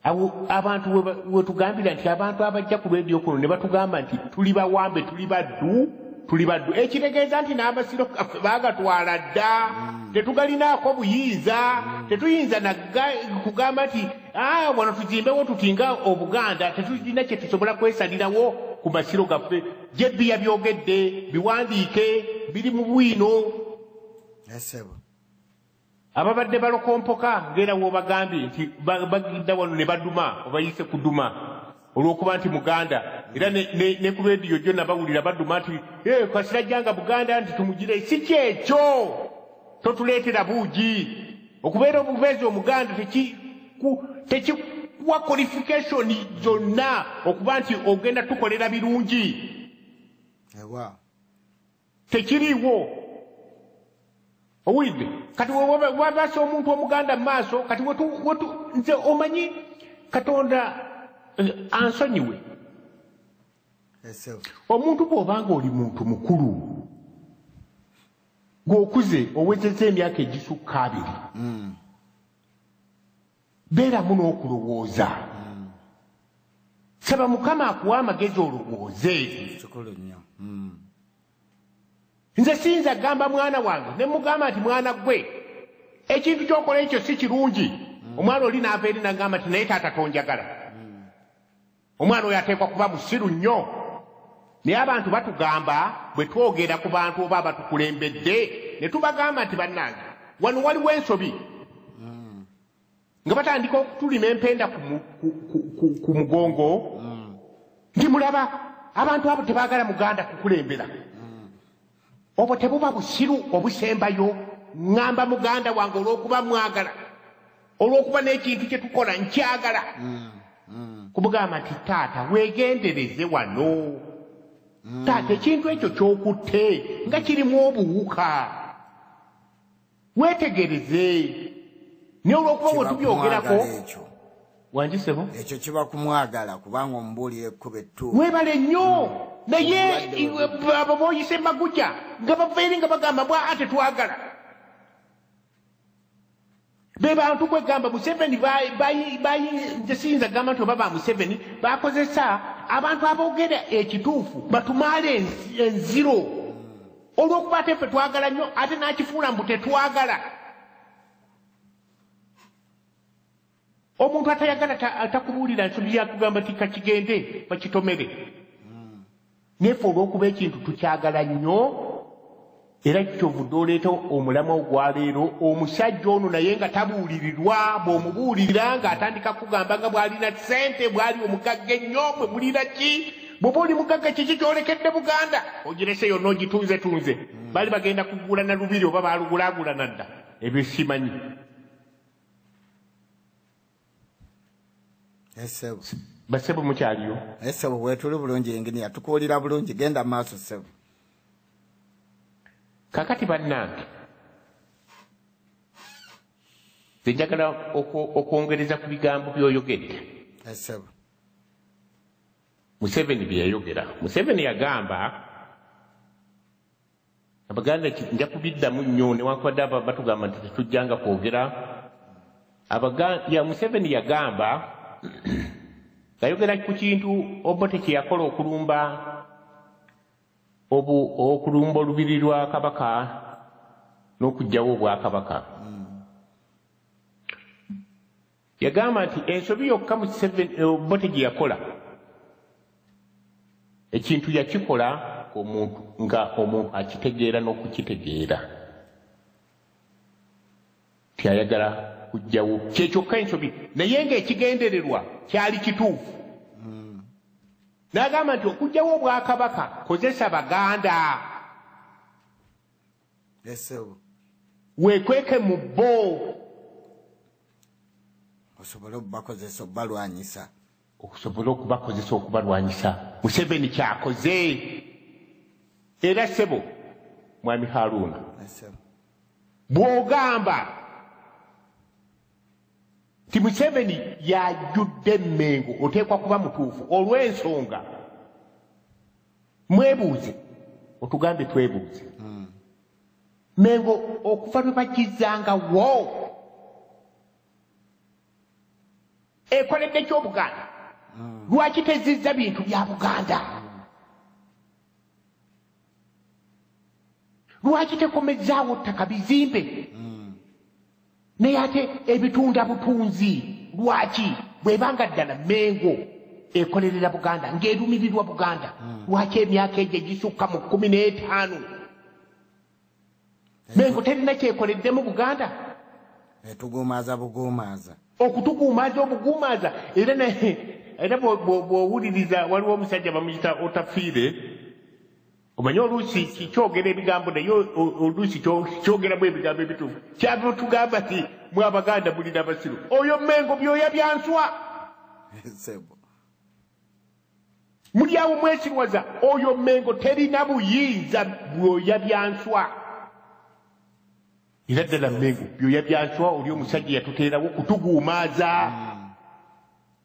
abo abantu wetugambira nti abantu abajja ku lwedio kuno ne batugamba nti tuli bawambe tuli baddu tuli baddu ekitegeeza nti n'amasiro gaffe bagatwala dda mm. tetugalinaako buyinza mm. tetuyinza nakugamba nti ah, wano tuzimbewo tutinga obuganda tetulina kye tusobola kwesalirawo ku masiro gaffe jebbi yabyogedde biwandiike biri mu bwino ababadde balokompoka ng'era w'obagambye nti bagidda wano ne baduma obayise kuduma olw'okuba nti muganda era ne ku rediyo gyo nabawulira baduma nti eh, kasirajjanga buganda nti tumugire si kyekyo totuleetera buugi okubeera obubeezi omuganda tekikuwa qualification zonna okuba nti ogenda tukolera birungi tekiriiwo owulidde kati wabasa omuntu omuganda mu maaso kati nze omanyi katonda eh, ansonyiwe omuntu bw'obanga oli muntu mukulu gweokuze owezeza emyaka egisukka abiri mm. beeramu n'okulowooza saba mukama akuwa amagezi olowooze kikulu nnyo hmm. nze siyinza gamba mwana wange ne mugamba nti mwana gwe ekintu kyokola ekyo si kirungi hmm. omwana oli naava eri nagamba nti naye taata tonjagala Omwana oyo ateekwa kuba musiru nnyo. Naye abantu batugamba bwe twogera ku bantu oba abatukulembedde ne tubagamba nti bannange wano waliwo ensobi nga batandika okutulima empenda ku mugongo nti mulaba abantu abo tebaagala muganda kukulembera obwo tebuba busiru obusembayo ŋŋamba muganda wange olw'okuba mwagala olw'okuba n'ekintu kye tukola nkyagala mm, mm. kumugamba nti taata weegendereze wano mm. taata ekintu ekyo ky'okutte nga kirimu obuwuka wetegereze naye olwokuba bwe tubyogerako wanjisebo ekyo kiba kumwagala kubanga omubuulira ekkuba ettuufu webale nnyo naye abo boyise maguja nga bava eri nga bagamba bwa ate twagala be bantu kwegamba museveni bayinza gamba nti oba ba museveni bakozesa abantu aboogera ekituufu batumaale enziro olwokuba ate ffe twagala nnyo ate n'akifuula mbu tetwagala omuntu atayagala atakubuulira nsobi yakugamba ti kakigende bakitomere naye fe olwokuba ekintu tukyagala nnyo era kikyovudde oleeta omulama ogwaleero omusajja ono naye nga tabuulirirwa bw'omubuulirira ng'atandika kugamba nga bw'alina ssente bw'ali omugagga ennyo bwe mulira ki bwoba oli mugagga kiki kyolekedde buganda ogirese yonna ogitunze tunze bali bagenda kugula na lubiri oba balugulagula nadda ebyo simanyi basebo mukyaliyo esebo wetuli bulungi engini yatukuulira bulungi genda maaso sebo kakati bannange zenjagala okwongereza ku bigambo byoyogedde esebo museveni byeyayogera museveni yagamba abaganda nja kubiddamu nnyo newankubadde aba batugamba nti tetujjanga kwogera ya museveni yagamba ngayogera ku kintu obote kyeyakola okulumba obu okulumba olubiri lwa kabaka n'okugyawo obwakabaka mm. yagamba nti ensobi yokka mu kiseven eh, obote gye yakola ekintu yakikola omuntu nga omuntu akitegeera n'okukitegeera ti ayagala kujjawo kyekyokka ensobi naye ng'ekigendererwa kyali kituufu n'agamba nti okujjawo obwakabaka kozesa baganda wekweke mu bo osobole okubakozesa okubalwanyisa okusobola okubakozesa okubalwanyisa museveni kyakoze era sebo mwami haruuna bwogamba nti museveni yajjudde emmengo oteekwa kuba mutuufu olw'ensonga mwebuuze otugambye twebuuze hmm. mengo okuva lwe bagizanga wo ekoledde kyobuganda hmm. lwaki tezizza bintu bya buganda lwaki tekomezaawo ttaka bizimbe hmm. naye ate ebitunda butunzi lwaki bwebanga ddala mengo ekolerera buganda ngaerumirirwa buganda hmm. lwaki emyaka egyo egisukka mu kumi n'etaano mengo terina kyekoleddemu buganda etuguumaaza buguumaaza okutuguumaaza obuguumaaza era naye era bwowuliriza waliwo omusajja bamuyita otafiire omanyi oluusi kyogera ebigambo naye oluusi kyogeramu ebigambo ebituufu kyava otugamba ti mwe abaganda mulina abasiru oyo mengo byoya byanswa mulyawo mwesirwaza oyo mengo terina buyinza byoya byanswa era ddala mengo byoya byanswa oli omusajja yatuteerawo kutuguumaaza mm.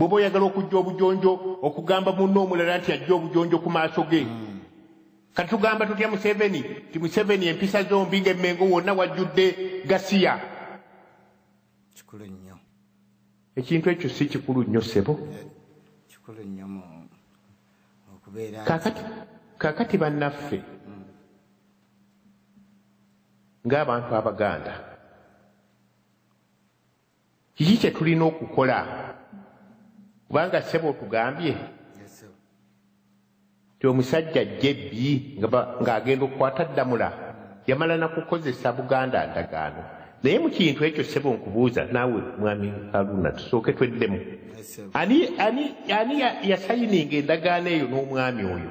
bwoba oyagala okujja obujonjo okugamba munna omulala nti ajja obujonjo ku maaso ge mm. kati tugamba tutya museveni ti museveni empisa zombi ngaemengo wonna wajjudde gasiya kikulu nnyo ekintu ekyo si kikulu nnyo sebo eh, kikulu nnyo okubeera kakati kakati bannaffe mm. ng'abantu abaganda kiki kye tulina okukola kubanga ssebo otugambye ti omusajja jebbi ng'agenda okukwata ddamula yamala nakukozesa buganda ndagaano naye mu kintu ekyo ssebo nkubuuza naawe mwami aluna tusooke tweddemu ani yasayininga endagaano eyo n'omwami oyo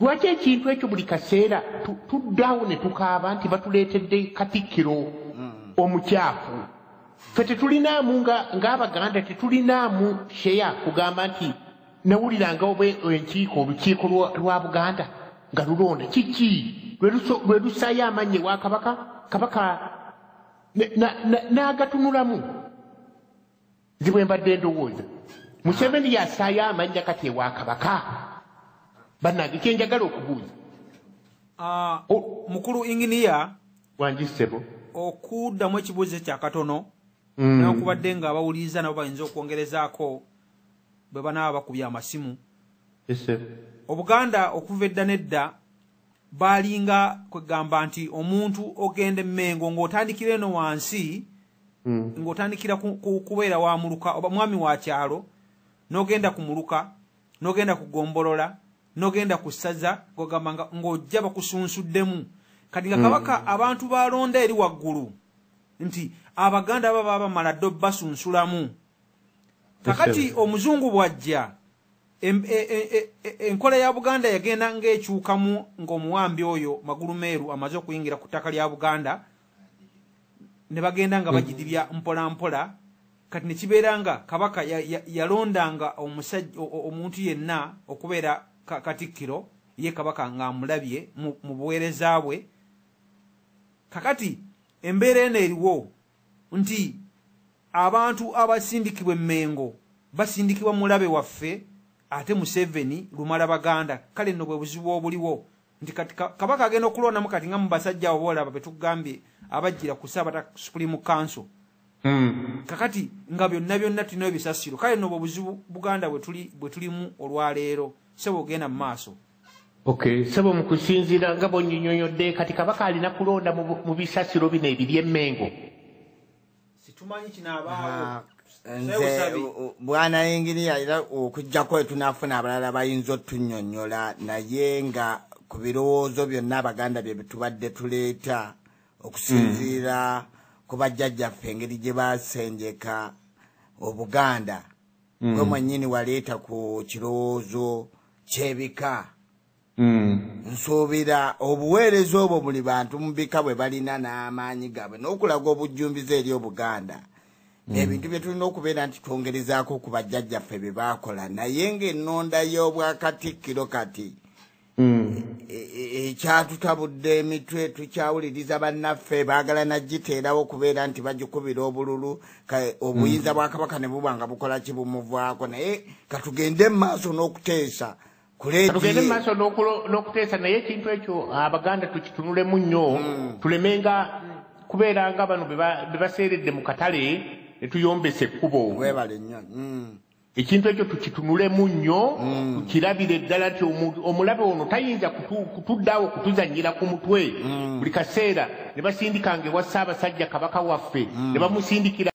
Lwaki ekintu ekyo buli kaseera tuddaawo ne tukaaba nti batuleetedde katikkiro omukyafu fe tetulinaamu ng'abaganda tetulinaamu sheya kugamba nti nawuliranga oba enkiiko olukiiko lwa buganda nga lulonda kiki lwe lusaayo amaanyi ewa kabaka kabaka n'agatunulamu nze bwe mbadde ndowooza museveni yasaayo amannya kati ewa kabaka bannange kyenjagala okubuuza ah, mukulu inginiya wangi ssebo okuddamu ekibuuzo kyakatono mm. newakubadde nga abawuliriza nabo bayinza okwongerezaako bwe banaaba bakubya amasimu obuganda okuva edda nedda baalinga kwegamba nti omuntu ogenda emmengo ng'otandikira eno wansi mm. ng'otandikira kubeera wa muluka oba mwami wa kyalo n'ogenda ku muluka n'ogenda ku gombolola n'ogenda ku ssaza gogamba ng'ojja bakusunsuddemu kati nga mm. kabaka mm. abantu balonda eri waggulu nti abaganda aba baba bamala ddo basunsulamu kakati omuzungu bw'ajja e, e, e, enkola ya buganda yagenda ng'ekyukamu ng'omuwambi oyo magulu meeru amaze okuyingira ku ttaka lya buganda ne bagenda nga bagidibya mpola mpola kati ne kibeera nga kabaka yalondanga omusajja omuntu yenna okubeera katikkiro ye kabaka ng'amulabye mu buweereza bwe kakati embeera eno eriwo nti abantu abasindikibwa emmengo basindikibwa mulabe waffe ate museveni lumala baganda kale nno bwe buzibu obuliwo nti kati kabaka agenda okulondamu kati nga mubasajja abo boolaba betugambye abajjira ku saabata supreme council hmm. kakati nga byonna byonna tulina ebisasiro kale nobwo obuzibu buganda bwe tulimu olwaleero sebo ogenda mu maaso okay sebo mu kusinziira nga bonyonyonyodde kati kabaka alina kulonda mu bisasiro bino ebiri emmengo situmanyi kinaabaawo nze bwana yingiriya era okujjako etunafuna abalala bayinza otunyonyola naye nga ku birowoozo byonna abaganda bye bitubadde tuleeta okusinziira mm. ku bajjajjaffe engeri gye basenjeka obuganda mm. gwe mwennyini waleeta ku kirowoozo kyebika Mm. nsuubira obuweereza obwo buli bantu mu bika bwe balina n'amaanyi gaabwe n'okulaga obujjumbiza eri obuganda mm. ebintu bye tulina okubeera nti twongerezaako ku bajjajjaffe bye baakola naye ng'ennonda y'obwakatikkiro kati mm. e, e, e, ekyatutabudde emitwe tukyawuliriza bannaffe baagala nagiteerawo okubeera nti bagikubira obululu obuyinza bwa kabaka ne buba nga bukola kibumuvaako naye katugende mu maaso n'okuteesa tugende maaso n'okuteesa naye ekintu ekyo abaganda tukitunulemu nnyo hmm. tulemenga kubeera nga bano bebaseeredde mu katale netuyombesa ekkubo hmm. ekintu ekyo tukitunulemu nnyo hmm. tukirabire ddala nti omulabe ono tayinza kutuddawo kutuzanyira ku mutwe buli kaseera ne basindikanga ewa ssaabasajja kabaka waffe ne bamusindikira